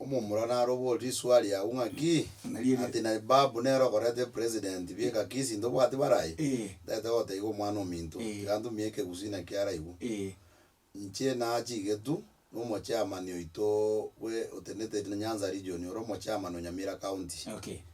Omomura naroborie risuali yao ng'aki? Ati na ebabu nere okoreta epresident bie ngaki sinto obwati barai? Ndete gotaiga omwana ominto, tiga ntumie ekegusina kiaraigwe. Inche nachigetwe nomochairman oito bwe otenete Nyanza region ore omochairman o Nyamira county.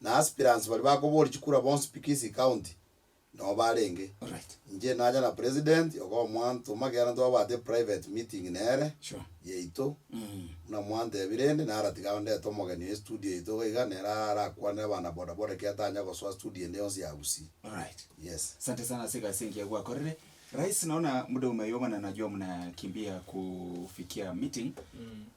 na aspirants baria bakoboria chikura bonsi pi Kisii County noo barenge. Inche nacha na President ogo omwantoma ekiagera ntwabwate private meeting nere, yaito, buna mwantebire rende naro tiga ondete omogeni oye studio yaito iga iga nere arakwane abana bodaboda ekiagera tanya gosoa studio ende yonsi ya Gusii. Yes. Asante sana ase egasi engiya gwakorire. Rais, naona muda umeyoomana najua muna kimbia kufikia meeting.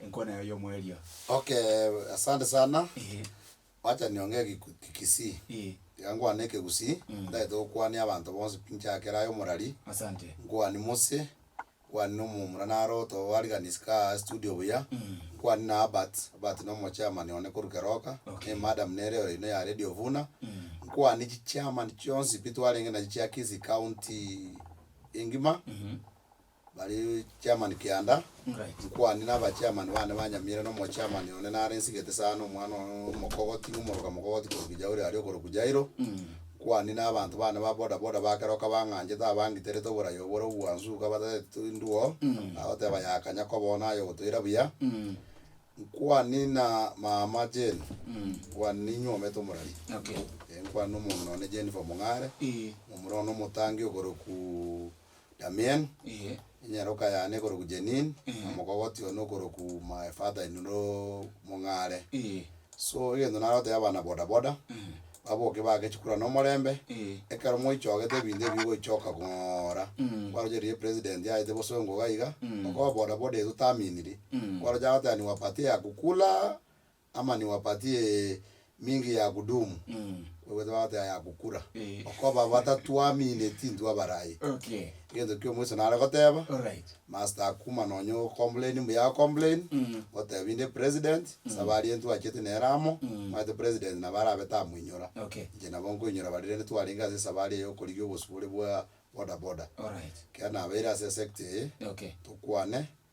Enkoro naye oyomo eria. Okay asante sana Ehe. Wacha nionge egiku kisii Eeh. Iga nkwane ekegusii Mm. Ndagete gokwania abanto bonsi pi nchakere aye omorari Asante. Nkwani Mose Nkwani na omomura naro otowariganisi kaa studio buya Mm. Nkwani na Albert Albert na omo chairman one korwa keroka Okay. Ne madam nere ore ino ya radio vuna Mm. Nkwani chi chairman chionsi pi twarenge nachi chia Kisii county engima Mhm. Bare chairman kianda, inkwani na aba chairman bane ba Nyamira na omo chairman one nare nsigete sana omwana one omokogoti na omoroka mokogoti korokwa Jauri aria okorokwa Jairo. Inkwani na abanto bane ba boda boda ba kera okabang'anchete abangiterete oborai obore obwansu iga batagete tindwoo agoteba ya kanya koba one aye ogotoira buya. Inkwani na mama Jane, inkwani na inywe omanyete omorari. Inkwani na omonto nonye Jennifer Mong'are, omorwani omotangi okorokwa Damien, Ee. enyaroka yane ekorokwa Janine, Ee. omokogoti one okorokwa my father in law Mong'are. Ee. So egento nare gotebia abana boda boda, Ee. baboke bagechie korwa nomorembe, Ee. ekero moichogete ebinto ebi bigoichoka kong'ora, Mm. kwaroche riria president aete bosongo iga iga, Mm. okoba boda boda eye totaminiri, Mm. kwaroche agoteba ni wapatia ya kukula, ama niwapatie mingi ya kudumu, bwebwete bagote aya agokura, Eh. okoba batatwamine tintwe abarai. Okay. Egento kia omoiso nare goteba, Alright. master akuma nonya o complain mbuya o complain, otebi inde president, ase abaria ntwachete nere amo, omanyete president nabo arabe tamoinyora. Okay. Inche nabo nkoinyora baria rende twarenge ase esabari eye yokorigia obosibore bwa boda boda. Alright. Ekero nabeire ase esecta eye, Okay. tokwane,